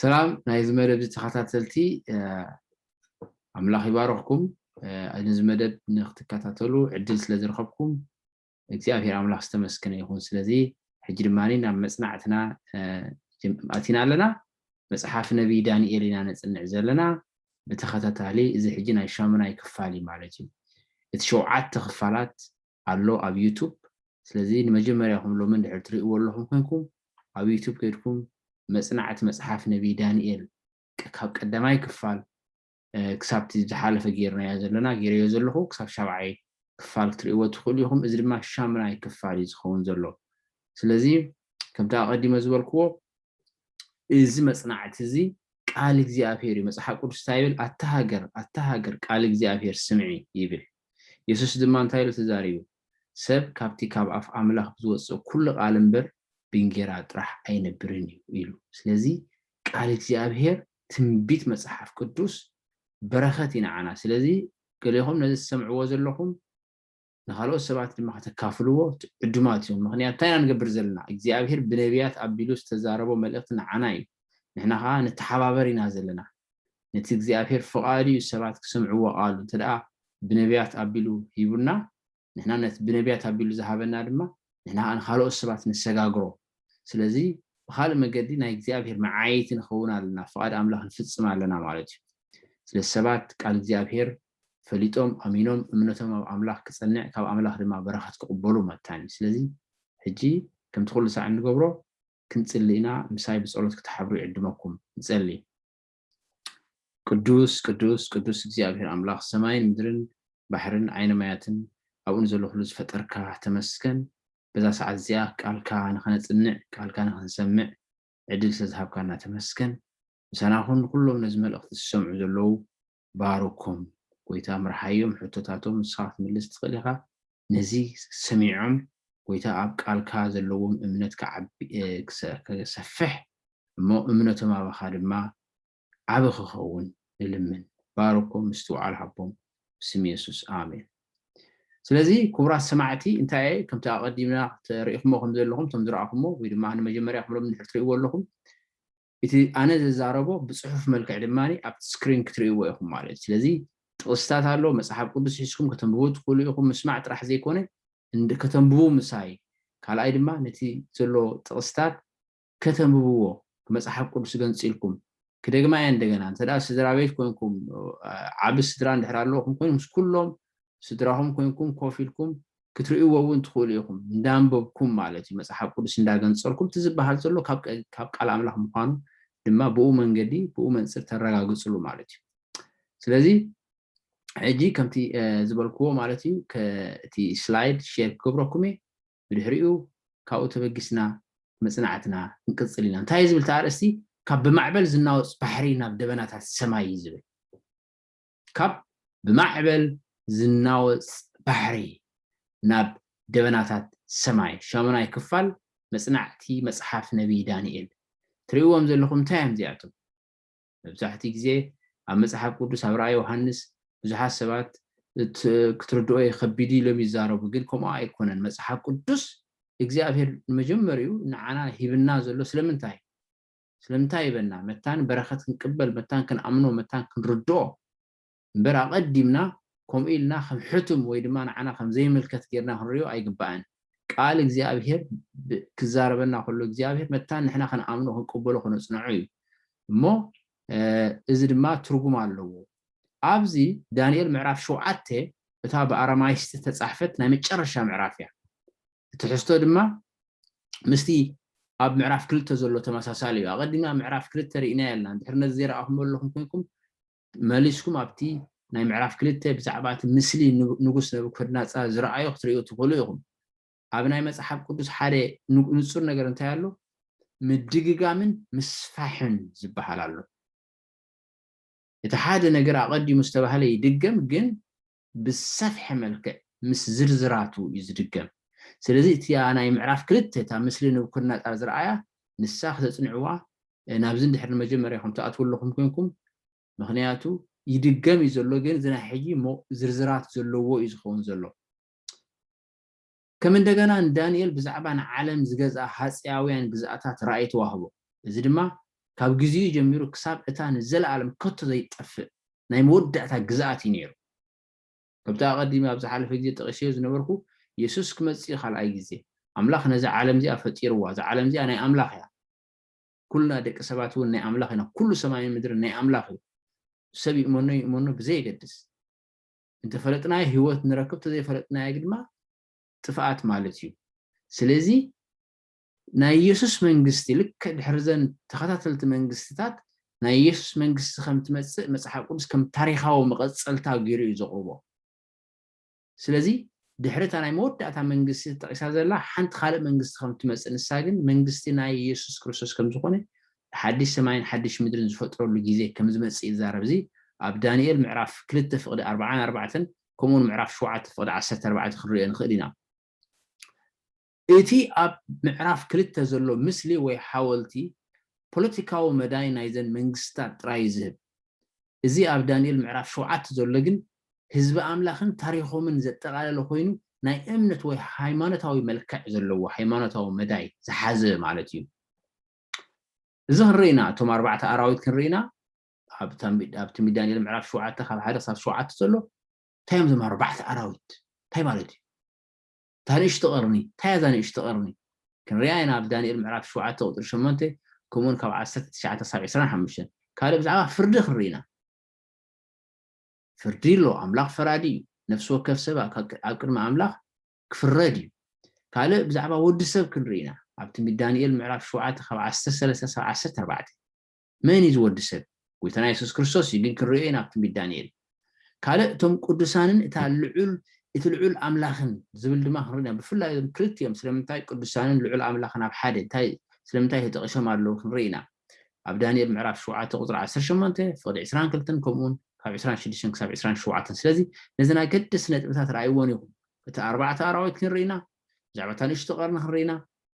ሰላም ናይዚ መደብ እዚ ተኸታተልቲ ኣምላኽ ይባረኽኩም ነዚ መደብ ንክትከታተሉ ዕድል ስለ ዝረኸብኩም እግዚኣብሔር ኣምላኽ ዝተመስገነ ይኹን ስለዚ ሕጂ ድማ ናብ መፅናዕትና ኣቲና ኣለና መፅሓፍ ነቢይ ዳንኤል ኢና ነፅንዕ ዘለና ብተኸታታሊ እዚ ሕጂ ናይ ሻሙናይ ክፋል እዩ ማለት እዩ እቲ ሸውዓተ ክፋላት ኣሎ ኣብ ዩቱብ ስለዚ ንመጀመርያኹም ሎሚ እንድሕር ትሪእዎ ኣለኹም ኮንኩም ኣብ ዩቱብ ከይድኩም መጽናዕቲ መጽሓፍ ነቢይ ዳንኤል ካብ ቀዳማይ ክፋል ክሳብቲ ዝሓለፈ ጌርናዮ ዘለና ጌረዮ ዘለኹ ክሳብ ሻብዓይ ክፋል ክትሪእዎ ትኽእሉ ኢኹም እዚ ድማ ሻምናይ ክፋል እዩ ዝኸውን ዘሎ ስለዚ ከምቲ ኣቐዲመ ዝበልክዎ እዚ መጽናዕቲ እዚ ቃል እግዚኣብሄር እዩ መጽሓፍ ቅዱስ እንታይ ይብል ኣታ ሃገር ኣታ ሃገር ቃል እግዚኣብሄር ስምዒ ይብል የሱስ ድማ እንታይ ኢሉ ተዛሪቡ? ሰብ ካብቲ ካብ ኣፍ ኣምላኽ ብዝወጽእ ኩሉ ቃል እምበር ብእንጌራ ጥራሕ ኣይነብርን እዩ ኢሉ። ስለዚ ቃል እግዚኣብሄር ትንቢት መጽሓፍ ቅዱስ በረኸት እዩ ንዓና። ስለዚ ገሌኹም ነዚ ትሰምዕዎ ዘለኹም ንኻልኦት ሰባት ድማ ከተካፍልዎ ዕዱማት እዮም። ምኽንያት እንታይ ኢና ንገብር ዘለና? እግዚኣብሄር ብነብያት ኣቢሉ ዝተዛረቦ መልእኽቲ ንዓና እዩ። ንሕና ኸኣ ንተሓባበር ኢና ዘለና። ነቲ እግዚኣብሔር ፍቃዱ እዩ ሰባት ክሰምዕዎ ቃሉ እንተደኣ ብነብያት ኣቢሉ ሂቡና ንሕና ነቲ ብነብያት ኣቢሉ ዝሃበና ድማ ንሕና ከኣ ንካልኦት ሰባት ነሰጋግሮ ስለዚ ብካልእ መገዲ ናይ እግዚኣብሔር መዓይይቲ ንከውን ኣለና ፍቃድ ኣምላክ ንፍጽም ኣለና ማለት እዩ ስለዚ ሰባት ቃል እግዚኣብሔር ፈሊጦም ኣሚኖም እምነቶም ኣብ ኣምላክ ክጸንዕ ካብ ኣምላክ ድማ በረከት ክቅበሉ መታን እዩ ስለዚ ሕጂ ከምቲ ኩሉ ሳዕ እንገብሮ ክንጽሊ ኢና ምሳይ ብጸሎት ክትሓብሩ ይዕድመኩም ንጸሊ ቅዱስ ቅዱስ ቅዱስ እግዚኣብሔር ኣምላኽ ሰማይን ምድርን ባሕርን ዓይነ ማያትን ኣብኡ ንዘሎ ኩሉ ዝፈጠርካ ተመስገን በዛ ሰዓት እዚኣ ቃልካ ንኸነጽንዕ ቃልካ ንኸንሰምዕ ዕድል ስለዝሃብካና ተመስገን ምሳና ኩን ንኩሎም ነዚ መልእኽቲ ዝሰምዑ ዘለዉ ባርኮም ጎይታ ምርሓዮም ሕቶታቶም ንስኻ ክትምልስ ትኽእል ኢኻ ነዚ ሰሚዖም ጎይታ ኣብ ቃልካ ዘለዎም እምነት ክሰፍሕ እሞ እምነቶም ኣባኻ ድማ ዓቢ ክኸውን ንልምን ባርኮም ምስትውዓል ሃቦም ብስም የሱስ ኣሜን ስለዚ ክቡራት ሰማዕቲ እንታይ እየ ከምቲ ኣቐዲምና ተሪኢኹሞ ከም ዘለኹም እቶም ዝረኣኹሞ ወይ ድማ ንመጀመርያ ክብሎም ንድሕር ትርእይዎ ኣለኹም እቲ ኣነ ዝዛረቦ ብጽሑፍ መልክዕ ድማ ኣብቲ ስክሪን ክትርእይዎ ኢኹም ማለት እዩ። ስለዚ ጥቕስታት ኣሎ፣ መጽሓፍ ቅዱስ ሒዝኩም ከተንብቡ ትኽእሉ ኢኹም፣ ምስማዕ ጥራሕ ዘይኮነ ከተንብቡ ምሳይ፣ ካልኣይ ድማ ነቲ ዘሎ ጥቕስታት ከተንብብዎ ብመጽሓፍ ቅዱስ ገንጺልኩም፣ ክደግማ እየ እንደገና፣ እንተ ስድራ ቤት ኮንኩም ዓቢ ስድራ እንድሕር ኣለኹም ኮይኑ ምስ ኩሎም ስድራኹም ኮንኩም ኮፍ ኢልኩም ክትርእይዎ እውን ትኽእሉ ኢኹም። እንዳንበብኩም ማለት እዩ፣ መጽሓፍ ቅዱስ እንዳገንጸልኩም እቲ ዝበሃል ዘሎ ካብ ቃል ኣምላኽ ምዃኑ ድማ ብኡ መንገዲ ብኡ መንጽር ተረጋግጽሉ ማለት እዩ። ስለዚ ሕጂ ከምቲ ዝበልክዎ ማለት እዩ እቲ ስላይድ ሼር ክገብረኩም እየ ብድሕሪኡ ካብኡ ተበጊስና መጽናዕትና ክንቅጽል ኢና እንታይ ዝብል ተኣርእስቲ ካብ ብማዕበል ዝናወጽ ባሕሪ ናብ ደበናታት ሰማይ እዩ ዝብል ካብ ብማዕበል ዝናወጽ ባሕሪ ናብ ደበናታት ሰማይ፣ ሻሙናይ ክፋል መጽናዕቲ መጽሓፍ ነብዪ ዳንኤል። ትርእይዎም ዘለኹም እንታይ እዮም እዚኣቶም? መብዛሕትኡ ግዜ ኣብ መጽሓፍ ቅዱስ ኣብ ራእይ ዮሃንስ ብዙሓት ሰባት ክትርድኦ ይኸቢድ ኢሎም ይዛረቡ፣ ግን ከምኡ ኣይኮነን። መጽሓፍ ቅዱስ እግዚኣብሄር ንመጀመሪኡ ንዓና ሂብና ዘሎ ስለምንታይ እዩ? ስለምንታይ ይበልና መታን በረከት ክንቅበል መታን ክንኣምኖ መታን ክንርድኦ እምበር ኣቀዲምና ከምኡ ኢልና ከም ሕቱም ወይ ድማ ንዓና ከም ዘይምልከት ጌርና ክንሪኦ ኣይግባእን ቃል እግዚኣብሄር ክዛረበና ከሎ እግዚኣብሄር መታን ንሕና ክንኣምኖ ክንቅበሎ ክነጽንዖ እዩ እሞ እዚ ድማ ትርጉም ኣለዎ ኣብዚ ዳንኤል ምዕራፍ ሸውዓተ እታ ብኣረማይስጢ ተጻሕፈት ናይ መጨረሻ ምዕራፍ እያ ትሕዝቶ ድማ ምስቲ ኣብ ምዕራፍ ክልተ ዘሎ ተመሳሳሊ እዩ ኣቐዲምና ምዕራፍ ክልተ ርኢናዮ ኣለና ድሕሪ ነዚ ዘይረኣኹም ኣለኹም ኮንኩም መሊስኩም ኣብቲ ናይ ምዕራፍ ክልተ ብዛዕባ እቲ ምስሊ ንጉስ ነብኮድናፃር ዝረኣዩ ክትርእዩ ትኽእሉ ኢኹም ኣብ ናይ መፅሓፍ ቅዱስ ሓደ ንፁር ነገር እንታይ ኣሎ ምድግጋምን ምስፋሕን ዝበሃል ኣሎ እቲ ሓደ ነገር ኣቐዲሙ ዝተባህለ ይድገም ግን ብዝሰፍሐ መልክዕ ምስ ዝርዝራቱ እዩ ዝድገም። ስለዚ እቲኣ ናይ ምዕራፍ ክልተ እታ ምስሊ ንቡከድነጻር ዝረኣያ ንሳ ክተጽንዕዋ ናብዚ እንድሕር ንመጀመርያኹም ትኣትዉ ኣለኹም ኮንኩም ምኽንያቱ ይድገም እዩ ዘሎ ግን እዚ ናይ ሕጂ ዝርዝራት ዘለዎ እዩ ዝኸውን ዘሎ። ከም እንደገና ንዳንኤል ብዛዕባ ንዓለም ዝገዝኣ ሃጸያውያን ግዝኣታት ራእይ ተዋህቦ፣ እዚ ድማ ካብ ግዜኡ ጀሚሩ ክሳብ እታ ንዘለኣለም ከቶ ዘይትጠፍእ ናይ መወዳእታ ግዝኣት እዩ ነይሩ። ከምቲ ኣቐዲመ ኣብ ዝሓለፈ ግዜ ጠቒሰዮ ዝነበርኩ፣ የሱስ ክመጽእ እዩ ካልኣይ ግዜ። ኣምላኽ ነዛ ዓለም እዚኣ ፈጢርዋ፣ እዛ ዓለም እዚኣ ናይ ኣምላኽ እያ። ኩልና ደቂ ሰባት እውን ናይ ኣምላኽ ኢና፣ ኩሉ ሰማይን ምድርን ናይ ኣምላኽ እዩ፣ ሰብ ይእመኖ ይእመኖ ብዘየገድስ። እንተፈለጥናዮ ህይወት ንረክብ ተዘይፈለጥናዮ ግድማ ጥፍኣት ማለት እዩ ስለዚ ናይ ኢየሱስ መንግስቲ ልክዕ ድሕሪ ዘን ተኸታተልቲ መንግስትታት ናይ ኢየሱስ መንግስቲ ከም ትመጽእ መጽሓፍ ቅዱስ ከም ታሪኻዊ መቐጸልታ ገይሩ እዩ ዘቕርቦ ስለዚ ድሕሪ እታ ናይ መወዳእታ መንግስቲ ተጠቂሳ ዘላ ሓንቲ ካልእ መንግስቲ ከም ትመጽእ ንሳ ግን መንግስቲ ናይ ኢየሱስ ክርስቶስ ከም ዝኾነ ሓድሽ ሰማይን ሓድሽ ምድርን ዝፈጥረሉ ጊዜ ከም ዝመጽእ ይዛረብ እዚ ኣብ ዳንኤል ምዕራፍ ክልተ ፍቕዲ ኣርብዓን ኣርባዕተን ከምኡውን ምዕራፍ ሸውዓተ ፍቕዲ ዓሰርተ ኣርባዕተ ክንርእዮ ንኽእል ኢና። እቲ ኣብ ምዕራፍ ክልተ ዘሎ ምስሊ ወይ ሓወልቲ ፖለቲካዊ መዳይ ናይዘን መንግስትታት ጥራይ እዩ ዝህብ። እዚ ኣብ ዳንኤል ምዕራፍ ሸውዓተ ዘሎ ግን ህዝቢ ኣምላኽን ታሪኾምን ዘጠቓለለ ኮይኑ ናይ እምነት ወይ ሃይማኖታዊ መልክዕ ዘለዎ ሃይማኖታዊ መዳይ ዝሓዘ ማለት እዩ። እዚ ክንርኢ ኢና እቶም ኣርባዕተ ኣራዊት ክንርኢ ኢና ኣብቲ ሚድ ዳንኤል ምዕራፍ ሸውዓተ ካብ ሓደ ክሳብ ሸውዓተ ዘሎ እንታይ እዮም እዞም ኣርባዕተ ኣራዊት እንታይ ማለት እዩ እታ ንእሽቲ ቐርኒ እንታይ እያ እዛ ንእሽቲ ቐርኒ ክንሪኣ ኢና ኣብ ዳንኤል ምዕራፍ ሸውዓተ ቁፅሪ ሸሞንተ ከምኡውን ካብ ዓሰርተ ትሽዓተ ክሳብ ዕስራን ሓሙሽተን ካልእ ብዛዕባ ፍርዲ ክንርኢ ኢና ፍርዲ ኣሎ ኣምላኽ ፈራዲ እዩ ነፍሲ ወከፍ ሰብ ኣብ ቅድሚ ኣምላኽ ክፍረድ እዩ ካልእ ብዛዕባ ወዲ ሰብ ክንርኢ ኢና ኣብ ትንቢት ዳንኤል ምዕራፍ ሸውዓተ ካብ ዓሰርተ ሰለስተ ክሳብ ዓሰርተ ኣርባዕተ መን እዩ ዝወዲ ሰብ ጎይታና የሱስ ክርስቶስ እዩ ግን ክንሪኦ ኢና ኣብ ትንቢት ዳንኤል ካልእ እቶም ቅዱሳንን እታ ልዑል እቲ ልዑል ኣምላኽን ዝብል ድማ ክንርኢ ኢና ብፍላይ እዞም ክልቲኦም ስለምንታይ ቅዱሳንን ልዑል ኣምላኽን ኣብ ሓደ እንታይ ስለምንታይ ተጠቂሶም ኣለዉ ክንርኢ ኢና ኣብ ዳንኤል ምዕራፍ ሸውዓተ ቁፅሪ ዓሰርተ ሸሞንተ ፍቕዲ ዕስራን ክልተን ከምኡውን ካብ ዕስራን ሽዱሽተን ክሳብ ዕስራን ሸውዓተን ስለዚ ነዘን ኣገደስቲ ነጥብታት ረኣይዎን ኢኹም እቲ ኣርባዕተ ኣራዊት ክንርኢ ኢና፣ ብዛዕባ እታ ንእሽቶ ቀርኒ ክንርኢ ኢና፣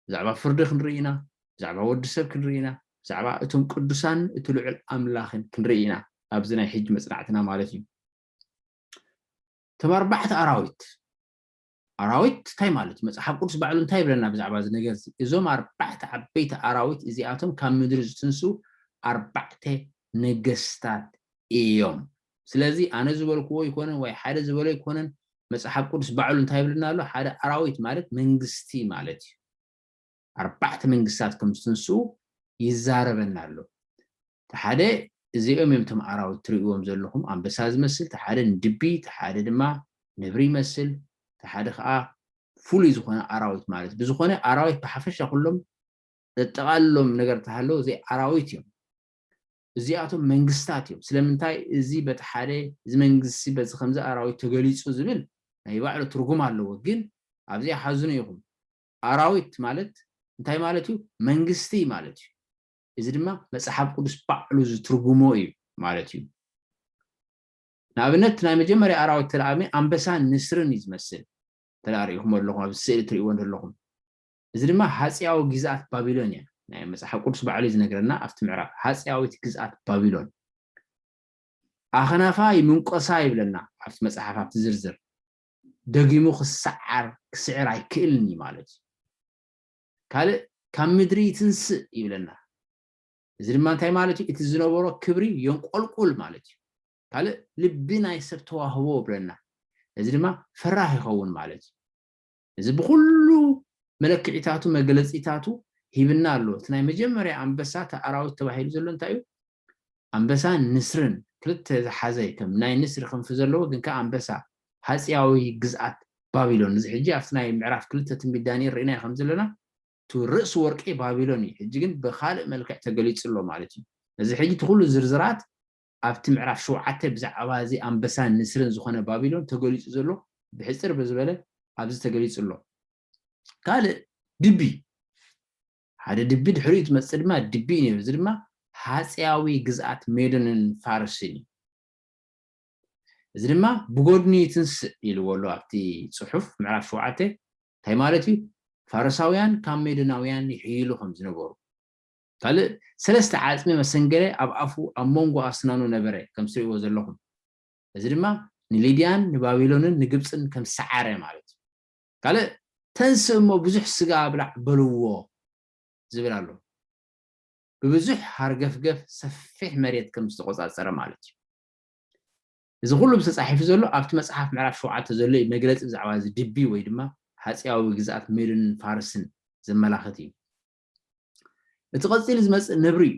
ብዛዕባ ፍርዲ ክንርኢ ኢና፣ ብዛዕባ ወዲ ሰብ ክንርኢ ኢና፣ ብዛዕባ እቶም ቅዱሳንን እቲ ልዑል ኣምላኽን ክንርኢ ኢና፣ ኣብዚ ናይ ሕጂ መጽናዕትና ማለት እዩ። እቶም ኣርባዕተ ኣራዊት ኣራዊት እንታይ ማለት እዩ? መጽሓፍ ቅዱስ ባዕሉ እንታይ ይብለና ብዛዕባ እዚ ነገር እዚ? እዞም ኣርባዕተ ዓበይቲ ኣራዊት እዚኣቶም ካብ ምድሪ ዝትንስኡ ኣርባዕተ ነገስታት እዮም። ስለዚ ኣነ ዝበልክዎ ኣይኮነን ወይ ሓደ ዝበሎ ኣይኮነን መጽሓፍ ቅዱስ ባዕሉ እንታይ ይብለና ኣሎ ሓደ ኣራዊት ማለት መንግስቲ ማለት እዩ ኣርባዕተ መንግስታት ከም ዝትንስኡ ይዛረበና ኣሎ እቲ ሓደ እዚኦም እዮም እቶም ኣራዊት ትርእይዎም ዘለኹም ኣንበሳ ዝመስል እቲ ሓደ ንድቢ እቲ ሓደ ድማ ነብሪ ይመስል እቲ ሓደ ከዓ ፍሉይ ዝኾነ ኣራዊት ማለት ብዝኾነ ኣራዊት ብሓፈሻ ኩሎም ዘጠቓልሎም ነገር ተሃለዉ ዘይ ኣራዊት እዮም እዚኣቶም መንግስታት እዮም። ስለምንታይ እዚ በቲ ሓደ እዚ መንግስቲ በዚ ከምዚ ኣራዊት ተገሊጹ ዝብል ናይ ባዕሉ ትርጉም ኣለዎ ግን ኣብዚኣ ሓዝኑ ኢኹም ኣራዊት ማለት እንታይ ማለት እዩ መንግስቲ ማለት እዩ እዚ ድማ መጽሓፍ ቅዱስ ባዕሉ ዝትርጉሞ እዩ ማለት እዩ ንኣብነት ናይ መጀመርያ ኣራዊት ተለኣሚ ኣንበሳን ንስርን እዩ ዝመስል ተለኣሪኢኹም ኣለኹም ኣብ ስእሊ ትርእይዎ ዘለኹም እዚ ድማ ሃጺያዊ ጊዝኣት ባቢሎን እያ ናይ መጽሓፍ ቁዱስ ባዕሉ እዩ ዝነግረና ኣብቲ ምዕራፍ ሃጺያዊት ግዝኣት ባቢሎን ኣኽናፋ ይምንቆሳ ይብለና ኣብቲ መጽሓፍ ኣብቲ ዝርዝር ደጊሙ ክሰዓር ክስዕር ኣይክእልን እዩ ማለት እዩ ካልእ ካብ ምድሪ ይትንስእ ይብለና እዚ ድማ እንታይ ማለት እዩ እቲ ዝነበሮ ክብሪ የንቆልቁል ማለት እዩ ካልእ ልቢ ናይ ሰብ ተዋህቦ ብለና እዚ ድማ ፈራህ ይኸውን ማለት እዩ እዚ ብኹሉ መለክዒታቱ መግለጺታቱ ሂብና ኣሎ። እቲ ናይ መጀመርያ ኣንበሳ እቲ ኣራዊት ተባሂሉ ዘሎ እንታይ እዩ? ኣንበሳን ንስርን ክልተ ዝሓዘ ከም ናይ ንስሪ ክንፊ ዘለዎ ግን ከኣ ኣንበሳ ሃጺያዊ ግዝኣት ባቢሎን እዚ ሕጂ ኣብቲ ናይ ምዕራፍ ክልተ ትንቢት ዳንኤል ርኢናዮ ከም ዘለና እቲ ርእሲ ወርቂ ባቢሎን እዩ። ሕጂ ግን ብኻልእ መልክዕ ተገሊጹ ኣሎ ማለት እዩ። እዚ ሕጂ እቲ ኩሉ ዝርዝራት ኣብቲ ምዕራፍ ሸውዓተ ብዛዕባ እዚ ኣንበሳን ንስርን ዝዀነ ባቢሎን ተገሊጹ ዘሎ ብሕጽር ብዝበለ ኣብዚ ተገሊጹ ኣሎ። ካልእ ድቢ፣ ሓደ ድቢ ድሕሪኡ ዝመጽእ ድማ ድቢ እዩ ነይሩ፣ እዚ ድማ ሃጸያዊ ግዝኣት ሜዶንን ፋርስን እዩ። እዚ ድማ ብጐድኑ ይትንስእ ኢልዎ ኣሎ ኣብቲ ጽሑፍ ምዕራፍ ሸውዓተ። እንታይ ማለት እዩ? ፋርሳውያን ካብ ሜዶናውያን ይሕይሉ ከም ዝነበሩ፣ ካልእ ሰለስተ ዓጽሚ መሰንገለ ኣብ ኣፉ ኣብ ሞንጎ ኣስናኑ ነበረ ከም ትርእይዎ ዘለኹም እዚ ድማ ንሊድያን ንባቢሎንን ንግብጽን ከም ሰዓረ ማለት እዩ ካልእ ተንስእ እሞ ብዙሕ ስጋ ብላዕ በልዎ ዝብል ኣሎ ብብዙሕ ሃርገፍገፍ ሰፊሕ መሬት ከም ዝተቆጻጸረ ማለት እዩ እዚ ኩሉ ምስ ተጻሒፉ ዘሎ ኣብቲ መጽሓፍ ምዕራፍ ሸውዓተ ዘሎ እዩ መግለጺ ብዛዕባ እዚ ድቢ ወይ ድማ ሃጽያዊ ግዝኣት ሜዶንን ፋርስን ዘመላኽት እዩ እቲ ቐጺሉ ዝመጽእ ነብሪ እዩ።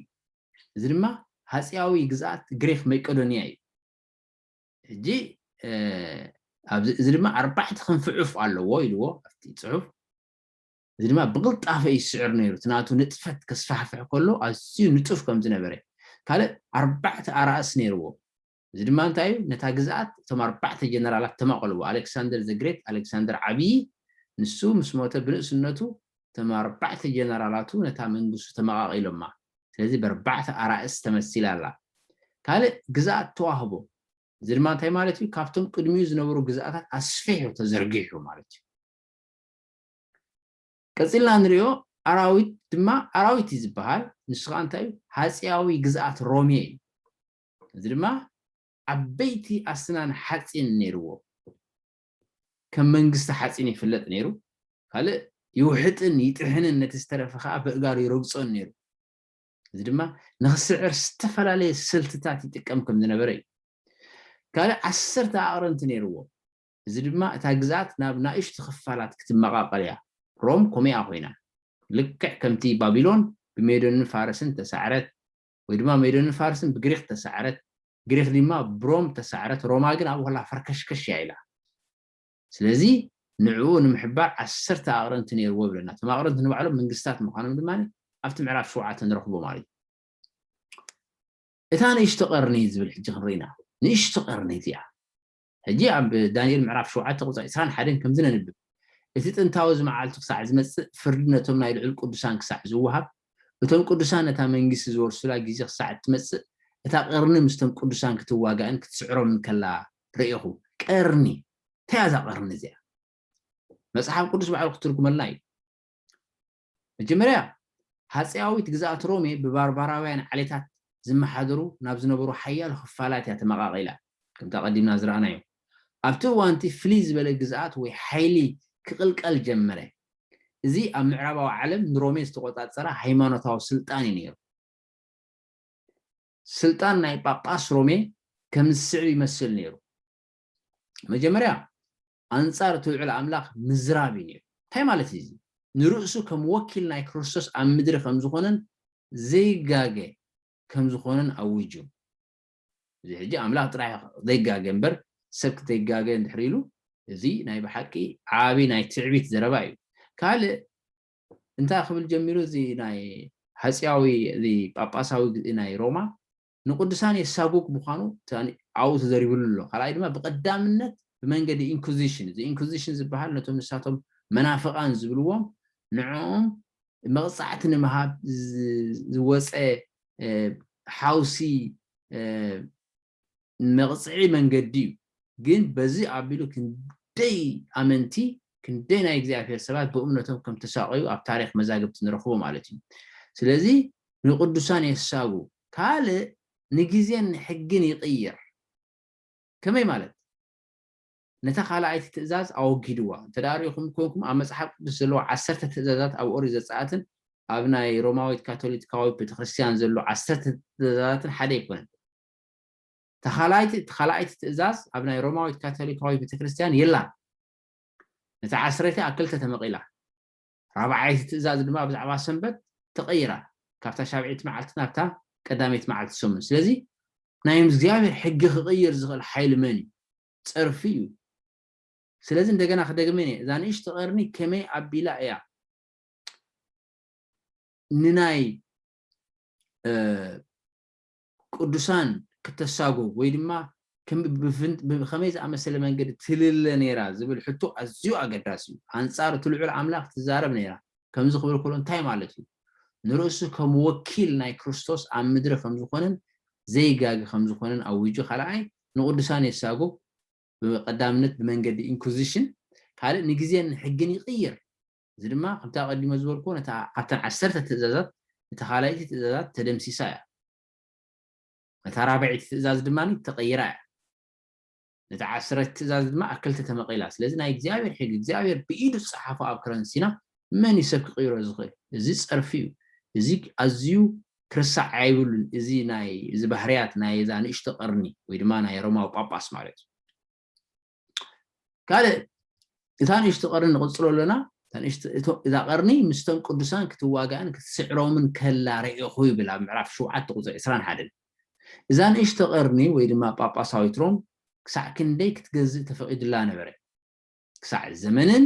እዚ ድማ ሃጺያዊ ግዝኣት ግሪኽ መቄዶንያ እዩ። ሕጂ እዚ ድማ ኣርባዕተ ክንፊ ዑፍ ኣለዎ ኢልዎ ኣብቲ ጽሑፍ። እዚ ድማ ብቕልጣፈ እዩ ዝስዕር ነይሩ። እቲ ናቱ ንጥፈት ከስፋሕፍሕ ከሎ ኣዝዩ ንጡፍ ከም ዝነበረ ካልእ ኣርባዕተ ኣራእስ ነይርዎ። እዚ ድማ እንታይ እዩ? ነታ ግዝኣት እቶም ኣርባዕተ ጀነራላት ተማቐልዎ። ኣሌክሳንደር ዘ ግሬት፣ ኣሌክሳንደር ዓብዪ፣ ንሱ ምስ ሞተ ብንእስነቱ እቶም ኣርባዕተ ጀነራላቱ ነታ መንግስቱ ተመቓቒሎማ። ስለዚ በርባዕተ ኣራእስ ተመሲላ ኣላ። ካልእ ግዝኣት ተዋህቦ። እዚ ድማ እንታይ ማለት እዩ? ካብቶም ቅድሚኡ ዝነበሩ ግዝኣታት ኣስፊሑ ተዘርጊሑ ማለት እዩ። ቀጺልና ንሪኦ ኣራዊት ድማ ኣራዊት እዩ ዝበሃል። ንሱ ከዓ እንታይ እዩ? ሃጺያዊ ግዝኣት ሮሜ እዩ። እዚ ድማ ዓበይቲ ኣስናን ሓጺን ነይርዎ። ከም መንግስቲ ሓጺን ይፍለጥ ነይሩ። ካልእ ይውሕጥን ይጥሕንን ነቲ ዝተረፈ ከኣ በእጋሩ ይረግጾን ነይሩ። እዚ ድማ ንኽስዕር ዝተፈላለየ ስልትታት ይጥቀም ከም ዝነበረ እዩ። ካልእ ዓሰርተ ኣቕርንቲ ነይርዎ። እዚ ድማ እታ ግዝኣት ናብ ናእሽቱ ክፋላት ክትመቓቐል እያ። ሮም ኮሜኣ ኮይና። ልክዕ ከምቲ ባቢሎን ብሜዶንን ፋርስን ተሳዕረት፣ ወይ ድማ ሜዶንን ፋርስን ብግሪኽ ተሳዕረት ግሪኽ ዲማ ብሮም ተሳዕረት ሮማ ግን ኣብኡ ከላ ፈርከሽከሽ እያ ኢላ ስለዚ ንዕኡ ንምሕባር ዓሰርተ ኣቅረንቲ ነይርዎ ይብለና እቶም ኣቅረንቲ ንባዕሎም መንግስታት ምዃኖም ድማ ኣብቲ ምዕራፍ ሸውዓተ ንረኽቦ ማለት እዩ እታ ንእሽቶ ቀርኒ ዝብል ሕጂ ክንርኢ ኢና ንእሽቶ ቀርኒ እዚኣ ሕጂ ኣብ ዳንኤል ምዕራፍ ሸውዓተ ቁጽሪ ዕስራን ሓደን ከምዚ ነንብብ፣ እቲ ጥንታዊ እዚ መዓልቱ ክሳዕ ዝመጽእ፣ ፍርዲ ነቶም ናይ ልዑል ቅዱሳን ክሳዕ ዝወሃብ፣ እቶም ቅዱሳን ነታ መንግስቲ ዝወርሱላ ግዜ ክሳዕ እትመጽእ፣ እታ ቀርኒ ምስቶም ቅዱሳን ክትዋጋእን ክትስዕሮምን ከላ ርኤኹ። ቀርኒ፣ እንታይ እያ እዛ ቀርኒ እዚኣ? መጽሓፍ ቅዱስ ባዕሉ ክትርጉመልና እዩ። መጀመርያ ሃጸያዊት ግዝኣት ሮሜ ብባርባራውያን ዓሌታት ዝመሓደሩ ናብ ዝነበሩ ሓያሎ ክፋላት እያ ተመቓቒላ፣ ከምቲ ኣቐዲምና ዝረኣናዮ። ኣብቲ እዋን'ቲ ፍልይ ዝበለ ግዝኣት ወይ ሓይሊ ክቕልቀል ጀመረ። እዚ ኣብ ምዕራባዊ ዓለም ንሮሜ ዝተቖጻጸራ ሃይማኖታዊ ስልጣን እዩ ነይሩ። ስልጣን ናይ ጳጳስ ሮሜ ከምዚ ዝስዕብ ይመስል ነይሩ፣ መጀመርያ ኣንጻር እቲ ልዑል ኣምላኽ ምዝራብ እዩ ነይሩ። እንታይ ማለት እዩ እዚ? ንርእሱ ከም ወኪል ናይ ክርስቶስ ኣብ ምድሪ ከም ዝዀነን ዘይጋገ ከም ዝዀነን ኣዊጁ። እዚ ሕጂ ኣምላኽ ጥራይ ዘይጋገ እምበር ሰብ ክተይጋገ እንድሕሪ ኢሉ እዚ ናይ ብሓቂ ዓቢ ናይ ትዕቢት ዘረባ እዩ። ካልእ እንታይ ክብል ጀሚሩ እዚ ናይ ሃጽያዊ እዚ ጳጳሳዊ ናይ ሮማ ንቅዱሳን የሳጉግ ምዃኑ ኣብኡ ተዘሪብሉ ኣሎ። ካልኣይ ድማ ብቀዳምነት ብመንገዲ ኢንኩዚሽን እዚ ኢንኩዚሽን ዝበሃል ነቶም ንሳቶም መናፍቃን ዝብልዎም ንዕኦም መቅጻዕቲ ንምሃብ ዝወጸ ሓውሲ መቅጽዒ መንገዲ እዩ። ግን በዚ ኣቢሉ ክንደይ ኣመንቲ ክንደይ ናይ እግዚኣብሔር ሰባት ብእምነቶም ከም ተሳቀዩ ኣብ ታሪክ መዛግብቲ ንረክቦ ማለት እዩ። ስለዚ ንቅዱሳን የሳጉግ ካልእ ንግዜን ንሕግን ይቕይር። ከመይ ማለት? ነታ ካልኣይቲ ትእዛዝ ኣወጊድዋ። እንተ ርኢኹም ኴንኩም ኣብ መጽሓፍ ቅዱስ ዘለዉ ዓሰርተ ትእዛዛት ኣብ ኦሪት ዘጸኣትን ኣብ ናይ ሮማዊት ካቶሊትካዊት ቤተክርስትያን ዘሎ ዓሰርተ ትእዛዛትን ሓደ ኣይኮነን። እታ ካልኣይቲ እቲ ካልኣይቲ ትእዛዝ ኣብ ናይ ሮማዊት ካቶሊካዊት ቤተክርስትያን የላን። ነታ ዓስረይቲ ኣብ ክልተ ተመቒላ። ራብዓይቲ ትእዛዝ ድማ ብዛዕባ ሰንበት ተቐይራ፣ ካብታ ሻብዒይቲ መዓልቲ ናብታ ቀዳመይቲ መዓልቲ ሰሙን። ስለዚ ናይ እግዚኣብሔር ሕጊ ክቕይር ዝኽእል ሓይሊ መን እዩ? ጸርፊ እዩ። ስለዚ እንደገና ክደግመን እየ፣ እዛ ንእሽቶ ቀርኒ ከመይ ኣቢላ እያ ንናይ ቅዱሳን ክተሳጎግ ወይ ድማ ብኸመይ ዝኣመሰለ መንገዲ ትልለ ነይራ ዝብል ሕቶ ኣዝዩ ኣገዳሲ እዩ። ኣንጻር እቲ ልዑል ኣምላኽ ትዛረብ ነይራ ከምዚ ክብል ከሎ እንታይ ማለት እዩ? ንርእሱ ከም ወኪል ናይ ክርስቶስ ኣብ ምድሪ ከም ዝኾነን ዘይጋገ ከም ዝኾነን ኣዊጁ ካልኣይ ንቅዱሳን የሳጉግ ብቀዳምነት ብመንገዲ ኢንኩዚሽን ካልእ ንግዜን ንሕግን ይቅይር እዚ ድማ ከምቲ ኣቐዲመ ዝበልክዎ ነታ ኣብተን ዓሰርተ ትእዛዛት እታ ካልኣይቲ ትእዛዛት ተደምሲሳ እያ። ነታ ራብዐይቲ ትእዛዝ ድማ ተቐይራ እያ። ነታ ዓስረቲ ትእዛዝ ድማ ኣብ ክልተ ተመቒላ። ስለዚ ናይ እግዚኣብሔር ሕጊ እግዚኣብሔር ብኢዱ ዝጸሓፎ ኣብ ከረን ሲና መን እዩ ሰብ ክቕይሮ ዝኽእል? እዚ ጸርፊ እዩ። እዚ ኣዝዩ ክርሳዕ ኣይብሉን እዚ ናይ እዚ ባህርያት ናይ እዛ ንእሽቶ ቀርኒ ወይ ድማ ናይ ሮማዊ ጳጳስ ማለት እዩ። ካልእ እታ ንእሽቲ ቀርኒ ንቕፅሎ ኣለና እዛ ቀርኒ ምስተም ቅዱሳን ክትዋጋእን ክትስዕሮምን ከላ ርኢኹ ይብል ኣብ ምዕራፍ ሸውዓተ ቁፅሪ ዕስራን ሓደን እዛ ንእሽተ ቀርኒ ወይ ድማ ጳጳሳዊት ሮም ክሳዕ ክንደይ ክትገዝእ ተፈቒድላ ነበረ ክሳዕ ዘመንን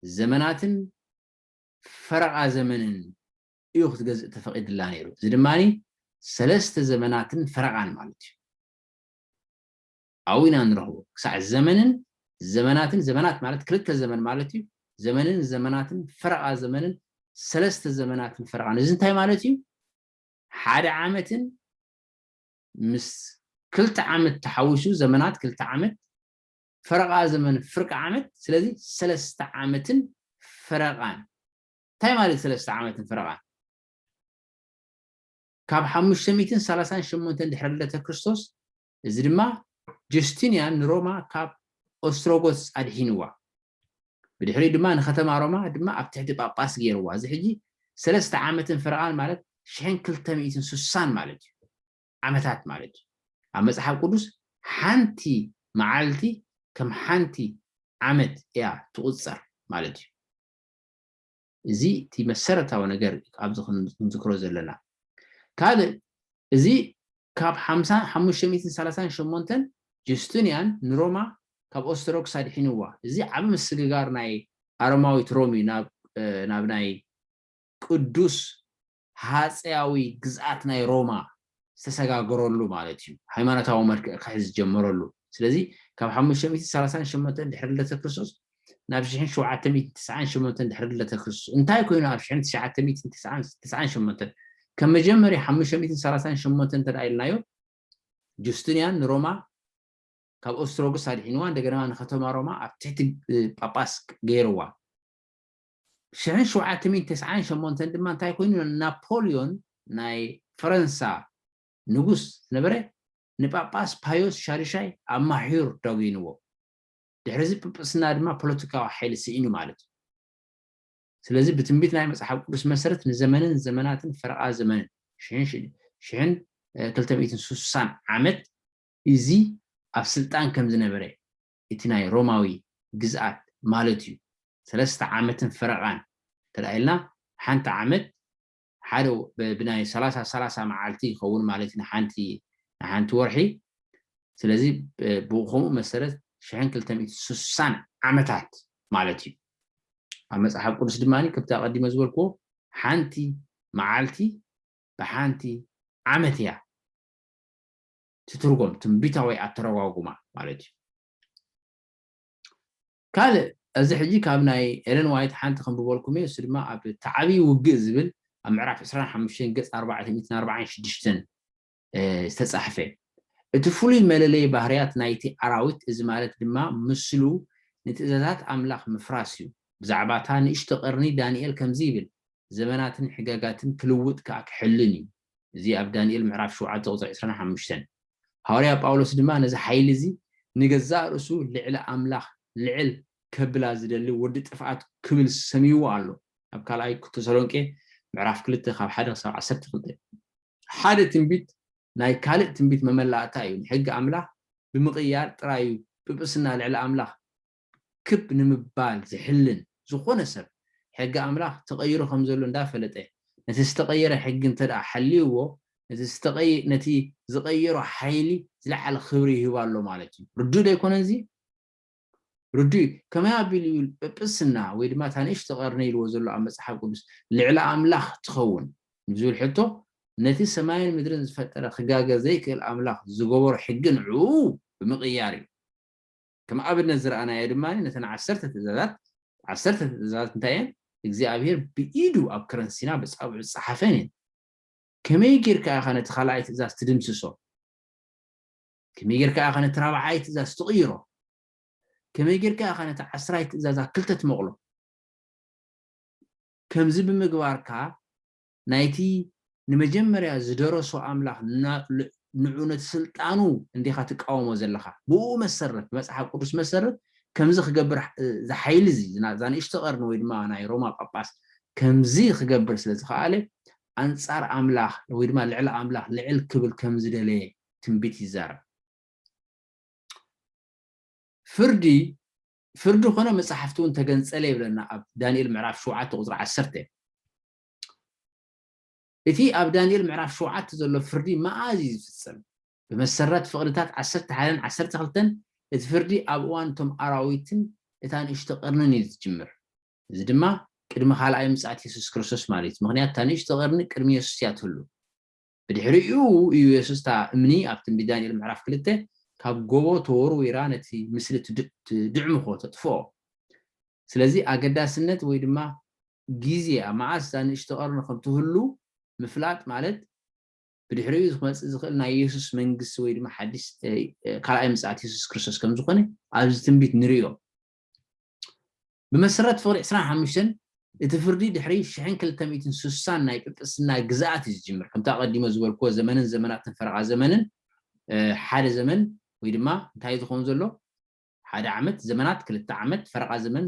ዘመናትን ፈረቓ ዘመንን እዩ ክትገዝእ ተፈቒድላ ነይሩ እዚ ድማ ሰለስተ ዘመናትን ፈረቓን ማለት እዩ ኣብኡ ኢና እንረኽቦ። ክሳዕ ዘመንን ዘመናትን፣ ዘመናት ማለት ክልተ ዘመን ማለት እዩ፣ ዘመንን ዘመናትን፣ ፈረቓ ዘመንን ሰለስተ ዘመናትን ፈረቓን፣ እዚ እንታይ ማለት እዩ? ሓደ ዓመትን ምስ ክልተ ዓመት ተሓዊሱ ዘመናት ክልተ ዓመት፣ ፈረቓ ዘመን ፍርቂ ዓመት፣ ስለዚ ሰለስተ ዓመትን ፈረቓን። እንታይ ማለት ሰለስተ ዓመትን ፈረቓን? ካብ ሓሙሽተ ሚእትን ሰላሳን ሸሞንተን ድሕሪ ልደተ ክርስቶስ እዚ ድማ ጁስቲንያን ንሮማ ካብ ኦስትሮጎትስ ኣድሒንዋ። ብድሕሪኡ ድማ ንከተማ ሮማ ድማ ኣብ ትሕቲ ጳጳስ ገይርዋ። እዚ ሕጂ ሰለስተ ዓመትን ፍረቓን ማለት ሽሕን ክልተ ሚእትን ስሳን ማለት እዩ። ዓመታት ማለት እዩ። ኣብ መጽሓፍ ቅዱስ ሓንቲ መዓልቲ ከም ሓንቲ ዓመት እያ ትቑጸር ማለት እዩ። እዚ እቲ መሰረታዊ ነገር እዩ ኣብዚ ክንዝክሮ ዘለና። ካልእ እዚ ካብ ሓምሳን ሓሙሽተ ሚእትን ሰላሳን ሸሞንተን ጁስቱንያን ንሮማ ካብ ኦስተሮክስ ኣድሒንዋ። እዚ ዓቢ ምስግጋር ናይ ኣሮማዊት ሮም እዩ ናብ ናብ ናይ ቅዱስ ሃጸያዊ ግዝኣት ናይ ሮማ ዝተሰጋገረሉ ማለት እዩ፣ ሃይማኖታዊ መልክዕ ክሕዝ ዝጀመረሉ። ስለዚ ካብ ሓሙሽተ ሚእቲ ሰላሳን ሸሞንተን ድሕሪ ልደተ ክርስቶስ ናብ ሽሕን ሸውዓተ ሚእትን ትስዓን ሸሞንተን ድሕሪ ልደተ ክርስቶስ እንታይ ኮይኑ ኣብ ሽሕን ትሽዓተ ሚእትን ትስዓን ትስዓን ሸሞንተን ከም መጀመርያ ሓሙሽተ ሚእትን ሰላሳን ሸሞንተን እንተደኣ ኢልናዮ ጁስትንያን ንሮማ ካብ ኦስትሮግስ ኣድሒንዋ እንደገና ንከተማ ሮማ ኣብ ትሕቲ ጳጳስ ገይርዋ። ሽሕን ሸውዓተ ሚእትን ተስዓን ሸሞንተን ድማ እንታይ ኮይኑ ናፖልዮን ናይ ፈረንሳ ንጉስ ዝነበረ ንጳጳስ ፓዮስ ሻድሻይ ኣብ ማሕዩር ዳጒንዎ ድሕሪዚ ጵጵስና ድማ ፖለቲካዊ ሓይሊ ስኢኑ ማለት እዩ ስለዚ ብትንቢት ናይ መጽሓፍ ቅዱስ መሰረት ንዘመንን ዘመናትን ፈረቓ ዘመንን ሽሕን ክልተ ሚእትን ስሳን ዓመት እዚ ኣብ ስልጣን ከም ዝነበረ እቲ ናይ ሮማዊ ግዝኣት ማለት እዩ ሰለስተ ዓመትን ፈረቓን እንተ ኢልና ሓንቲ ዓመት ሓደ ብናይ ሰላሳ ሰላሳ መዓልቲ ይኸውን ማለት እዩ ንሓንቲ ንሓንቲ ወርሒ ስለዚ ብኸምኡ መሰረት ሽሕን ክልተ ሚእትን ስሳን ዓመታት ማለት እዩ ኣብ መጽሓፍ ቅዱስ ድማ ከምቲ ኣቐዲመ ዝበልክዎ ሓንቲ መዓልቲ ብሓንቲ ዓመት እያ ትትርጎም ትንቢታዊ ኣተረጓጉማ ማለት እዩ። ካልእ እዚ ሕጂ ካብ ናይ ኤለን ዋይት ሓንቲ ከንብበልኩም እየ እሱ ድማ ኣብ ተዓብዪ ውግእ ዝብል ኣብ ምዕራፍ 25 ገጽ 446 ዝተጻሕፈ እቲ ፍሉይ መለለይ ባህርያት ናይቲ ኣራዊት እዚ ማለት ድማ ምስሉ ንትእዛዛት ኣምላኽ ምፍራስ እዩ ብዛዕባ እታ ንእሽቶ ቀርኒ ዳንኤል ከምዚ ይብል ዘመናትን ሕጋጋትን ክልውጥ ከኣ ክሕልን እዩ እዚ ኣብ ዳንኤል ምዕራፍ ሸውዓተ ቁጽሪ ዕስራን ሓሙሽተን። ሃዋርያ ጳውሎስ ድማ ነዚ ሓይሊ እዚ ንገዛእ ርእሱ ልዕሊ ኣምላኽ ልዕል ከብላ ዝደሊ ወዲ ጥፍኣት ክብል ሰምይዎ ኣሎ ኣብ ካልኣይ ተሰሎንቄ ምዕራፍ ክልተ ካብ ሓደ ክሳብ ዓሰርተ ክልተ። ሓደ ትንቢት ናይ ካልእ ትንቢት መመላእታ እዩ፣ ንሕጊ ኣምላኽ ብምቕያር ጥራይ እዩ ጵጵስና ልዕሊ ኣምላኽ ክብ ንምባል ዝሕልን ዝኾነ ሰብ፣ ሕጊ ኣምላኽ ተቐይሩ ከም ዘሎ እንዳ ፈለጠ፣ ነቲ ዝተቐየረ ሕጊ እንተድኣ ሓልዩዎ፣ ነቲ ዝቐየሮ ሓይሊ ዝለዓለ ክብሪ ይህቦ ኣሎ ማለት እዩ። ርዱእ ዶ ኣይኮነን እዚ? ርዱእ እዩ። ከመይ ኣቢሉ እዩ ጵጵስና ወይ ድማ እታ ንእሽቶ ቀርኒ ኢልዎ ዘሎ ኣብ መጽሓፍ ቅዱስ ልዕሊ ኣምላኽ ትኸውን ንዝብል ሕቶ፣ ነቲ ሰማይን ምድርን ዝፈጠረ ክጋገ ዘይክእል ኣምላኽ ዝገበሮ ሕጊ ንዕኡ ብምቕያር እዩ። ከም ኣብነት ዝረኣናዮ ድማ ነተን ዓሰርተ ትእዛዛት፣ ዓሰርተ ትእዛዛት እንታይ እየን? እግዚኣብሄር ብኢዱ ኣብ ከረን ሲና በጻብዑ ዝጸሓፈን እየን። ከመይ ጌርካ ኢኻ ነቲ ካልኣይ ትእዛዝ ትድምስሶ? ከመይ ጌርካ ኢኻ ነቲ ራብዓይ ትእዛዝ ትቕይሮ? ከመይ ጌርካ ኢኻ ነቲ ዓስራይ ትእዛዝ ኣብ ክልተ ትመቕሎ? ከምዚ ብምግባርካ ናይቲ ንመጀመርያ ዝደረሶ ኣምላኽ ንዑ ነቲ ስልጣኑ እንዲኻ ትቃወሞ ዘለኻ። ብእኡ መሰረት ብመጽሓፍ ቅዱስ መሰረት ከምዚ ክገብር እዚ ሓይሊ እዚ እዛ ንእሽቶ ቀርኒ ወይ ድማ ናይ ሮማ ጳጳስ ከምዚ ክገብር ስለ ዝኸኣለ ኣንጻር ኣምላኽ ወይ ድማ ልዕሊ ኣምላኽ ልዕል ክብል ከም ዝደለየ ትንቢት ይዛረብ። ፍርዲ ፍርዲ ኮነ መጻሕፍቲ እውን ተገንጸለ ይብለና ኣብ ዳንኤል ምዕራፍ ሸውዓተ ቁጽሪ ዓሰርተ። እቲ ኣብ ዳንኤል ምዕራፍ ሸውዓተ ዘሎ ፍርዲ መኣዝ ኢዩ ዝፍጸም? ብመሰረት ፍቕድታት ዓሰርተ ሓደን ዓሰርተ ክልተን፣ እቲ ፍርዲ ኣብ እዋን እቶም ኣራዊትን እታ ንእሽቶ ቐርኒን ኢዩ ዝጅምር። እዚ ድማ ቅድሚ ካልኣይ ምጽኣት የሱስ ክርስቶስ ማለት ኢዩ፣ ምኽንያቱ እታ ንእሽቶ ቐርኒ ቅድሚ የሱስ ኢያ ትህሉ። ብድሕሪኡ እዩ የሱስ እታ እምኒ ኣብ ትንቢት ዳንኤል ምዕራፍ ክልተ ካብ ጎቦ ተወርዊራ ነቲ ምስሊ ትድዕምኾ፣ ተጥፍኦ። ስለዚ ኣገዳስነት ወይ ድማ ግዜ ኣብ መዓስ እዛ ንእሽቶ ቀርኒ ከም ትህሉ ምፍላጥ ማለት ብድሕሪኡ ክመጽእ ዝኽእል ናይ የሱስ መንግስቲ ወይ ድማ ሓዲስ ካልኣይ ምጽኣት የሱስ ክርስቶስ ከም ዝኾነ ኣብዚ ትንቢት ንርእዮ። ብመሰረት ፍቕዲ ዕስራን ሓሙሽተን፣ እቲ ፍርዲ ድሕሪ ሽሕን ክልተ ሚእትን ስሳን ናይ ጵጵስና ግዝኣት እዩ ዝጅምር። ከምቲ ኣቐዲሞ ዝበልክዎ ዘመንን ዘመናትን ፈረቓ ዘመንን ሓደ ዘመን ወይ ድማ እንታይ እዩ ዝኸውን ዘሎ ሓደ ዓመት ዘመናት ክልተ ዓመት ፈረቓ ዘመን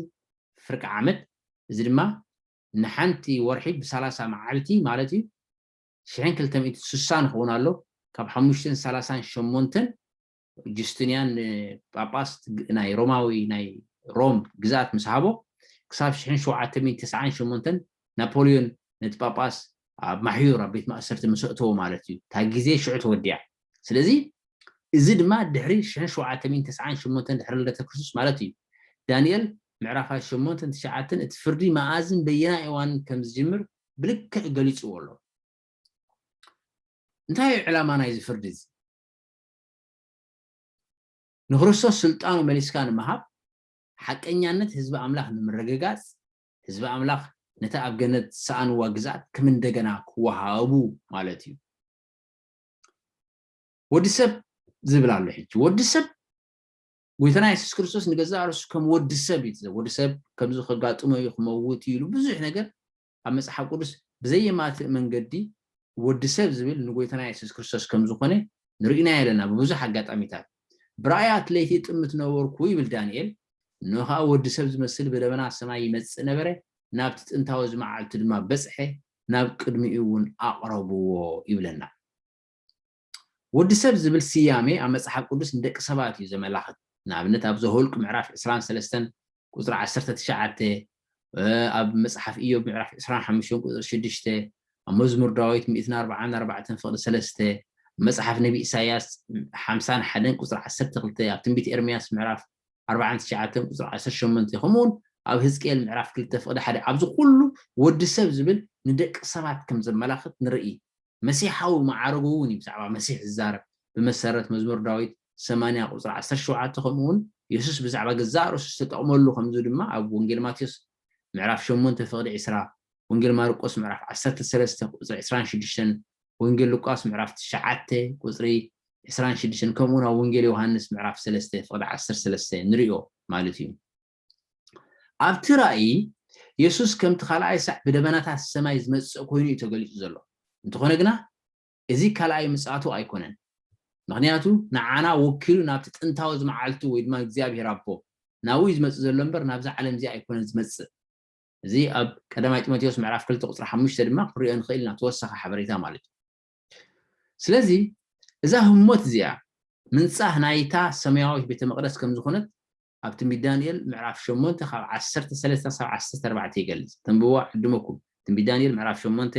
ፍርቂ ዓመት እዚ ድማ ንሓንቲ ወርሒ ብሳላሳ መዓልቲ ማለት እዩ ሽሕን ክልተ ሚእትን ስሳን ይኸውን ኣሎ ካብ ሓሙሽተን ሳላሳን ሸሞንተን ጁስቲንያን ንጳጳስ ናይ ሮማዊ ናይ ሮም ግዝኣት ምስ ሃቦ፣ ክሳብ ሽሕን ሸውዓተ ሚእትን ተስዓን ሸሞንተን ናፖልዮን ነቲ ጳጳስ ኣብ ማሕዩር ኣብ ቤት ማእሰርቲ ምስ ኣእተዎ ማለት እዩ፣ እታ ግዜ ሽዑ ተወዲኣ። ስለዚ እዚ ድማ ድሕሪ ሽሕን ሸውዓተ ሚእትን ተስዓን ሸሞንተን ድሕሪ ልደተ ክርስቶስ ማለት እዩ። ዳንኤል ምዕራፋት ሸሞንተን ትሽዓተን እቲ ፍርዲ መኣዝን በየናይ እዋንን ከም ዝጅምር ብልክዕ ገሊጽዎ ኣሎ። እንታይ እዩ ዕላማ ናይዚ ፍርዲ እዚ? ንክርስቶስ ስልጣኑ መሊስካ ንምሃብ፣ ሓቀኛነት ህዝቢ ኣምላኽ ንምርግጋጽ፣ ህዝቢ ኣምላኽ ነታ ኣብ ገነት ዝሰኣንዋ ግዝኣት ከም እንደገና ክወሃቡ ማለት እዩ። ወዲ ሰብ ዝብል ኣሎ ሕጂ ወዲ ሰብ ጎይታና የሱስ ክርስቶስ ንገዛእ ርእሱ ከም ወዲ ሰብ እዩ ወዲ ሰብ ከምዚ ከጋጥሞ እዩ ክመውት እዩ ኢሉ ብዙሕ ነገር ኣብ መጽሓፍ ቅዱስ ብዘየማትእ መንገዲ ወዲ ሰብ ዝብል ንጎይታና የሱስ ክርስቶስ ከም ዝኾነ ንርኢናዮ ኣለና ብብዙሕ ኣጋጣሚታት። ብራእያት ለይቲ እጥምት ነበርኩ ይብል ዳንኤል፣ እንሆ ከኣ ወዲ ሰብ ዝመስል ብደበና ሰማይ ይመጽእ ነበረ፣ ናብቲ ጥንታዊ እዚ መዓልቲ ድማ በጽሐ፣ ናብ ቅድሚኡ እውን ኣቕረብዎ ይብለና። ወዲ ሰብ ዝብል ስያሜ ኣብ መጽሓፍ ቅዱስ ንደቂ ሰባት እዩ ዘመላኽት። ንኣብነት ኣብ ዘኍልቍ ምዕራፍ ዕስራን ሰለስተን ቍጽሪ ዓሰርተ ትሽዓተ፣ ኣብ መጽሓፍ እዮብ ምዕራፍ ዕስራን ሓሙሽተን ቍጽሪ ሽዱሽተ፣ ኣብ መዝሙር ዳዊት ሚእትን ኣርብዓን ኣርባዕተን ፍቕዲ ሰለስተ፣ ኣብ መጽሓፍ ነብዪ ኢሳይያስ ሓምሳን ሓደን ቍጽሪ ዓሰርተ ክልተ፣ ኣብ ትንቢት ኤርምያስ ምዕራፍ ኣርብዓን ትሽዓተን ቍጽሪ ዓሰርተ ሸሞንተ፣ ከምኡውን ኣብ ህዝቅኤል ምዕራፍ ክልተ ፍቕዲ ሓደ ኣብዚ ኵሉ ወዲ ሰብ ዝብል ንደቂ ሰባት ከም ዘመላኽት ንርኢ። መሲሓዊ መዓርጉ እውን እዩ ብዛዕባ መሲሕ ዝዛረብ፣ ብመሰረት መዝሙር ዳዊት ሰማንያ ቁጽሪ ዓሰርተ ሸውዓተ ከምኡ እውን የሱስ ብዛዕባ ገዛእ ርእሱ ዝተጠቕመሉ ከምዚ ድማ ኣብ ወንጌል ማቴዎስ ምዕራፍ ሸሞንተ ፍቕዲ ዕስራ፣ ወንጌል ማርቆስ ምዕራፍ ዓሰርተ ሰለስተ ቁጽሪ ዕስራን ሽዱሽተን፣ ወንጌል ሉቃስ ምዕራፍ ትሽዓተ ቁጽሪ ዕስራን ሽዱሽተን ከምኡ እውን ኣብ ወንጌል ዮሃንስ ምዕራፍ ሰለስተ ፍቕዲ ዓሰርተ ሰለስተ ንርእዮ ማለት እዩ። ኣብቲ ራእይ፣ የሱስ ከምቲ ኻልኣይ ሳዕ ብደበናታት ሰማይ ዚመጽእ ኰይኑ እዩ ተገሊጹ ዘሎ። እንተዀነ ግና፣ እዚ ካልኣይ ምጽኣቱ ኣይኰነን፣ ምኽንያቱ ንዓና ወኪሉ ናብቲ ጥንታዊ መዓልቱ ወይ ድማ ንእግዚኣብሄር ኣቦ፣ ናብኡ እዩ ዚመጽእ ዘሎ እምበር፣ ናብዛ ዓለም እዚኣ ኣይኰነን ዚመጽእ። እዚ ኣብ ቀዳማይ ጢሞቴዎስ ምዕራፍ ክልተ ቍጽሪ ሓሙሽተ ድማ ክንርእዮ ንኽእል ኢና፣ ተወሳኺ ሓበሬታ ማለት እዩ። ስለዚ፣ እዛ ህሞት እዚኣ፣ ምንጻህ ናይታ ሰማያዊት ቤተ መቕደስ ከም ዝዀነት ኣብ ትንቢት ዳንኤል ምዕራፍ ሸሞንተ ካብ ዓሰርተ ሰለስተ ክሳብ ዓሰርተ ኣርባዕተ ይገልጽ። ተንብብዎ ኣዕድመኩም። ትንቢት ዳንኤል ምዕራፍ ሸሞንተ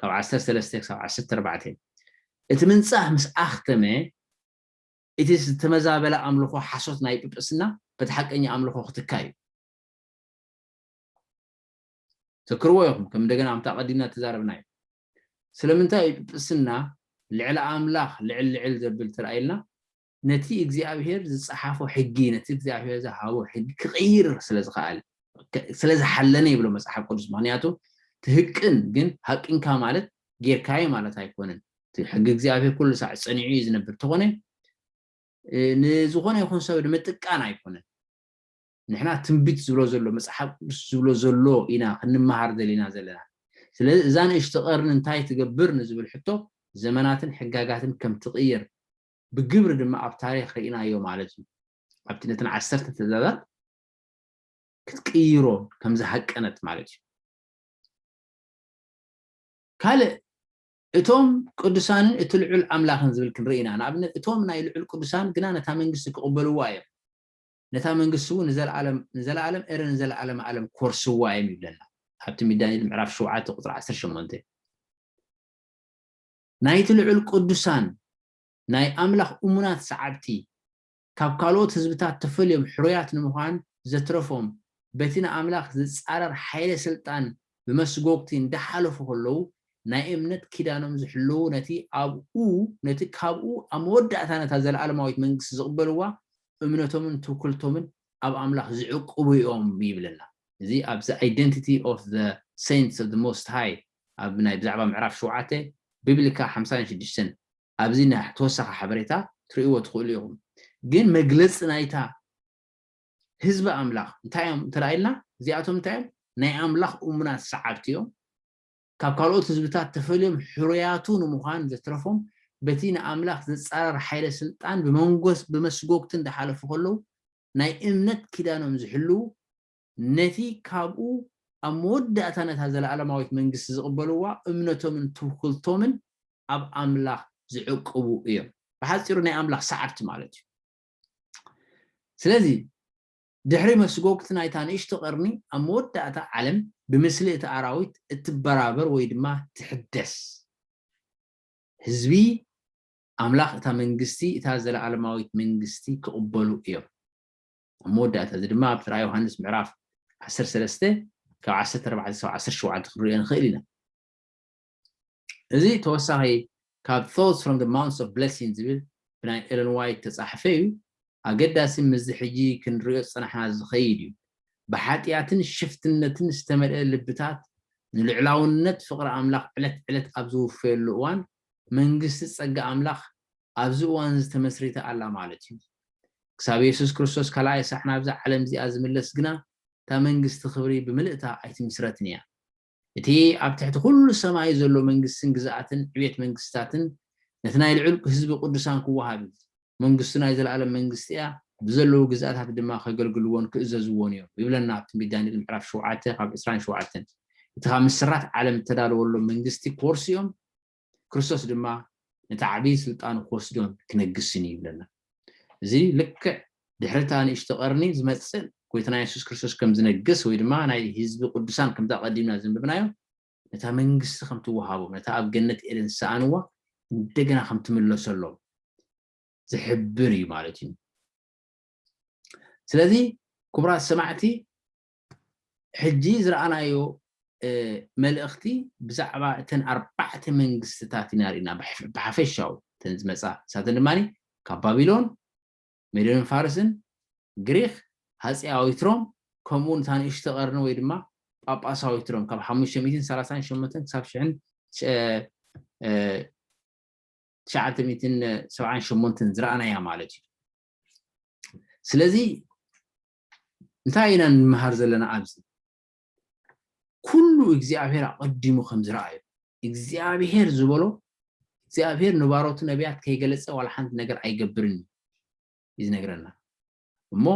ካብ ዓሰርተ ሰለስተ ክሳብ ዓሰርተ ኣርባዕተ። እቲ ምንጻህ ምስ ኣኽተመ፣ እቲ ዝተመዛበለ ኣምልኾ ሓሶት ናይ ጵጵስና በቲ ሓቀኛ ኣምልኾ ክትካ እዩ። ዘክርዎ ኢኹም ከም እንደገና ኣምታ ቀዲምና ተዛረብናዮ። ስለምንታይ እዩ ጵጵስና ልዕሊ ኣምላኽ ልዕል ልዕል ዘብል ተራእየልና? ነቲ እግዚኣብሄር ዝጸሓፎ ሕጊ ነቲ እግዚኣብሄር ዝሃቦ ሕጊ ክቕይር ስለ ዝኸኣለ ስለ ዝሓለነ ይብሎ መጽሓፍ ቅዱስ ምክንያቱ ትህቅን ግን ሃቂንካ ማለት ጌርካዮ ማለት ኣይኮነን እቲ ሕጊ እግዚኣብሄር ኩሉ ሳዕ ጸኒዑ እዩ ዝነብር ተኾነ ንዝኾነ ይኹን ሰብ ንምጥቃን ኣይኮነን ንሕና ትንቢት ዝብሎ ዘሎ መፅሓፍ ቅዱስ ዝብሎ ዘሎ ኢና ክንመሃር ዘለና ዘለና ስለዚ እዛ ንእሽቲ ቀርኒ እንታይ ትገብር ንዝብል ሕቶ ዘመናትን ሕጋጋትን ከም ትቕይር ብግብሪ ድማ ኣብ ታሪኽ ርኢናዮ ማለት እዩ። ኣብቲ ነተን ዓሰርተ ትእዛዛት ክትቅይሮ ከም ዝሃቀነት ማለት እዩ። ካልእ እቶም ቅዱሳንን እቲ ልዑል ኣምላኽን ዝብል ክንርኢ ኢና። ንኣብነት እቶም ናይ ልዑል ቅዱሳን ግና ነታ መንግስቲ ክቕበልዋ እዮም። ነታ መንግስቲ እውን ንዘለኣለም ንዘለኣለም እረ ንዘለኣለም ኣለም ክወርስዋ እዮም ይብለና። ኣብቲ ሚዳንኤል ምዕራፍ ሸውዓተ ቁፅሪ ዓሰርተ ሸሞንተ ናይቲ ልዑል ቅዱሳን ናይ ኣምላኽ እሙናት ሰዓብቲ ካብ ካልኦት ህዝብታት ተፈልዮም ሕሩያት ንምዃን ዘትረፎም በቲ ንኣምላኽ ዝጻረር ሓይለ ስልጣን ብመስጎግቲ እንዳሓለፉ ከለዉ ናይ እምነት ኪዳኖም ዝሕልዉ ነቲ ኣብኡ ነቲ ካብኡ ኣብ መወዳእታ ነታ ዘለኣለማዊት መንግስቲ ዝቕበልዋ እምነቶምን ትውክልቶምን ኣብ ኣምላኽ ዝዕቅቡ እዮም ይብለና እዚ ኣብዚ Identity of the Saints of the Most High ኣብ ናይ ብዛዕባ ምዕራፍ ሸውዓተ ቢብሊካ ሓምሳን ሽዱሽተን ኣብዚ ናይ ተወሳኺ ሓበሬታ ትርእይዎ ትኽእሉ ኢኹም ግን መግለጺ ናይታ ህዝቢ ኣምላኽ እንታይ እዮም እንተ ኢልና እዚኣቶም እንታይ እዮም ናይ ኣምላኽ እሙናት ሰዓብቲ እዮም ካብ ካልኦት ህዝብታት ተፈልዮም ሕሩያቱ ንምዃን ዘትረፎም በቲ ንኣምላኽ ዘጻረር ሓይለ ስልጣን ብመንጎስ ብመስጎግቲ እንዳሓለፉ ከለዉ ናይ እምነት ኪዳኖም ዝሕልዉ ነቲ ካብኡ ኣብ መወዳእታ ነታ ዘለኣለማዊት መንግስቲ ዝቕበልዋ እምነቶምን ትውክልቶምን ኣብ ኣምላኽ ዝዕቅቡ እዮም። ብሓጺሩ ናይ ኣምላኽ ሰዓብቲ ማለት እዩ። ስለዚ ድሕሪ መስጎግቲ ናይታ ንእሽቶ ቀርኒ ኣብ መወዳእታ ዓለም ብምስሊ እቲ ኣራዊት እትበራበር ወይ ድማ ትሕደስ። ህዝቢ ኣምላኽ እታ መንግስቲ እታ ዘለኣለማዊት መንግስቲ ክቕበሉ እዮም። ኣብ መወዳእታ እዚ ድማ ኣብቲ ራእይ ዮሃንስ ምዕራፍ ዓሰርተ ሰለስተ ካብ ዓሰርተ ኣርባዕተ ክሳብ ዓሰርተ ሸውዓተ ክንሪኦ ንኽእል ኢና እዚ ተወሳኺ ካብ thoughts from the mounts of blessing ዝብል ብናይ ኤለን ዋይት ተፃሕፈ እዩ ኣገዳሲ ምስዚ ሕጂ ክንሪኦ ዝፀናሕና ዝኸይድ እዩ ብሓጢኣትን ሽፍትነትን ዝተመልአ ልብታት ንልዕላውነት ፍቕሪ ኣምላኽ ዕለት ዕለት ኣብ ዝውፈየሉ እዋን መንግስቲ ጸጋ ኣምላኽ ኣብዚ እዋንዚ ተመስሪታ ኣላ ማለት እዩ። ክሳብ የሱስ ክርስቶስ ካልኣይ ሳዕ ናብዛ ዓለም እዚኣ ዝምለስ ግና እታ መንግስቲ ክብሪ ብምልእታ ኣይትምስረትን እያ። እቲ ኣብ ትሕቲ ኩሉ ሰማይ ዘሎ መንግስትን ግዝኣትን ዕቤት መንግስትታትን ነቲ ናይ ልዑል ህዝቢ ቅዱሳን ክወሃብ እዩ። መንግስቱ ናይ ዘለኣለም መንግስቲ እያ፣ ብዘለዉ ግዝኣታት ድማ ከገልግልዎን ክእዘዝዎን እዮም ይብለና ኣብ ትንቢት ዳንኤል ምዕራፍ ሸውዓተ ካብ ዕስራን ሸውዓተን። እቲ ካብ ምስራት ዓለም እተዳለወሎም መንግስቲ ክወርሱ እዮም። ክርስቶስ ድማ ነቲ ዓብዪ ስልጣን ክወስዶን ክነግስን እዩ ይብለና። እዚ ልክዕ ድሕሪ እታ ንእሽቶ ቀርኒ ዝመጽእ ጎይታና የሱስ ክርስቶስ ከም ዝነግስ ወይ ድማ ናይ ህዝቢ ቅዱሳን ከምታ ቀዲምና ዘንብብናዮ ነታ መንግስቲ ከም ትወሃቦም ነታ ኣብ ገነት ኤደን ዝሰኣንዋ እንደገና ከም ትምለሰሎም ዝሕብር እዩ ማለት እዩ። ስለዚ ክቡራት ሰማዕቲ ሕጂ ዝረኣናዮ መልእኽቲ ብዛዕባ እተን ኣርባዕተ መንግስትታት ኢና ርኢና ብሓፈሻኡ እተን ዝመጻ ንሳተን ድማ ካብ ባቢሎን ሜዶንን ፋርስን ግሪኽ ሃጺያዊት ሮም ከምኡ እውን እታ ንእሽቶ ቀርኒ ወይ ድማ ጳጳሳዊት ሮም ካብ ሓሙሽተ ሚእትን ሰላሳን ሸሞንተን ክሳብ ሽሕን ትሽዓተ ሚእትን ሰብዓን ሸሞንተን ዝረኣናያ ማለት እዩ ስለዚ እንታይ ኢና ንመሃር ዘለና ኣብዚ ኩሉ እግዚኣብሔር ኣቐዲሙ ከም ዝረኣዮ እግዚኣብሔር ዝበሎ እግዚኣብሔር ንባሮቱ ነቢያት ከይገለጸ ዋላ ሓንቲ ነገር ኣይገብርን እዩ እዩ ዝነግረና እሞ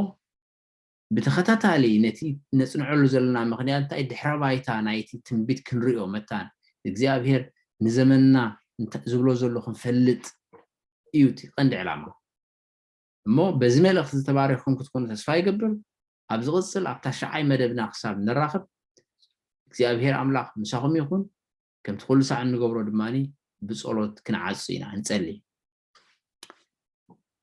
ብተኸታታሊ ነቲ ነፅንዐሉ ዘለና ምክንያት እንታይ ድሕረ ባይታ ናይቲ ትንቢት ክንሪኦ መታን እግዚኣብሄር ንዘመንና ዝብሎ ዘሎ ክንፈልጥ እዩ እቲ ቀንዲ ዕላማ እሞ በዚ መልእኽቲ ዝተባረኽኩም ክትኮኑ ተስፋ ይገብር ኣብ ዝቕጽል ኣብ ታሽዓይ መደብና ክሳብ ንራኸብ እግዚኣብሄር ኣምላኽ ምሳኹም ይኹን ከምቲ ኩሉ ሳዕ እንገብሮ ድማ ብጸሎት ክንዓጹ ኢና ንጸሊ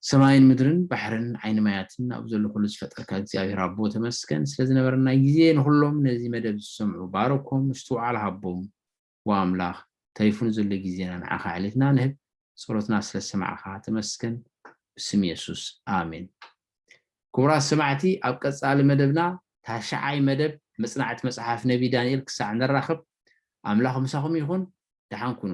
ሰማይን ምድርን ባሕርን ዓይኒ ማያትን ኣብ ዘሎ ኩሉ ዝፈጠርካ እግዚኣብሔር ኣቦ ተመስገን ስለ ዝነበረና ግዜ ንኩሎም ነዚ መደብ ዝሰምዑ ባረኮም ምስትውዓል ሃቦም ዎው ኣምላኽ ተሪፉ ንዘሎ ግዜና ንዓኻ ኣሕሊፍና ንህብ ጸሎትና ስለ ዝሰማዕኻ ተመስገን ብስም የሱስ ኣሜን ክቡራት ሰማዕቲ ኣብ ቀጻሊ መደብና ታሽዓይ መደብ መጽናዕቲ መጽሓፍ ነቢ ዳንኤል ክሳዕ ንራኸብ ኣምላኽ ምሳኹም ይኹን ደሓን ኩኑ